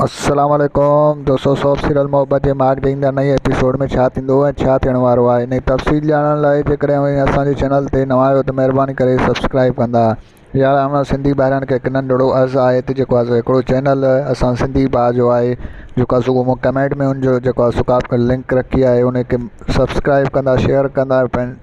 السلام عليڪم دوستو سوپ سيريل محبت جي ماڳ تي ايندڙ نئين ايپيسوڊ ۾ ڇا ٿيندو ۽ ڇا ٿيڻ وارو آهي ان جي تفصيل ڄاڻڻ لاء جيڪڏهن اوهين اسان جي چينل تي نوان آهيو ته مهرباني ڪري سبسڪرائيب ڪندا يار اوهان سنڌي ڀائرن کي هڪ ننڍڙو عرض آهي ته جيڪو آسان هڪڙو چينل اسان سنڌي ڀاء جو آهي جيڪو آسان صبح مون ڪمينٽ ۾ ان جو جيڪو آسان سڪاف ڪيل لنڪ رکي آهي ان کي سبسڪرائيب ڪندا شيئر ڪندا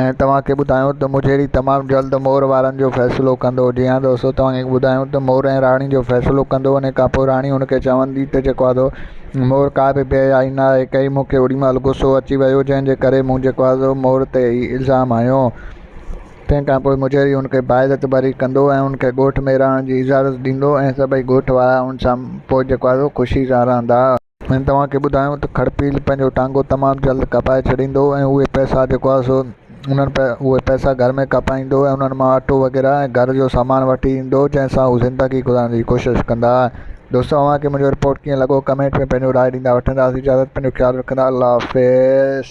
۽ توهان کي ٻڌايون ته مجهيري تمام جلد مور وارن جو فيصلو ڪندو. جي ها دوستو توهان کي ٻڌايون ته مور ۽ راڻي جو فيصلو ڪندو انهي کان پوء راڻي هن کي چوندي ته جيڪو آدو مور ڪا به بي حيائي نه آهي ڪئي مون کي اوڏيمهل غصو اچي ويو جنهن جي ڪري مون جيڪو آدو مور تي هي الزام هنيو. تنهن کان پوء مجهيري هن کي باعزت بري ڪندو ۽ هن کي ڳوٺ ۾ رهڻ جي اجازت ڏيندو ۽ سڀئي ڳوٺ وارا هن سان پوء جيڪو آدو خوشي سان رهندا. هن توهان کي ٻڌايو ته کڙپيل پنهنجو ٽانگو تمام جلد ڪپائي ڇڏيندو ۽ اهي پئسا جيڪو آهي سو انهن اهي پئسا گهر ۾ ڪپائيندو ۽ انهن مان اٽو وغيره ۽ گهر جو سامان وٺي ايندو جنهن سان هو زندگي گذارڻ جي ڪوشش ڪندا دوستو اوهان کي منهنجو رپورٽ ڪيئن لڳو ڪمينٽ ۾ پنهنجو راء ڏيندا وٺنداسين اجازت پنهنجو خيال رکندا الله حافظ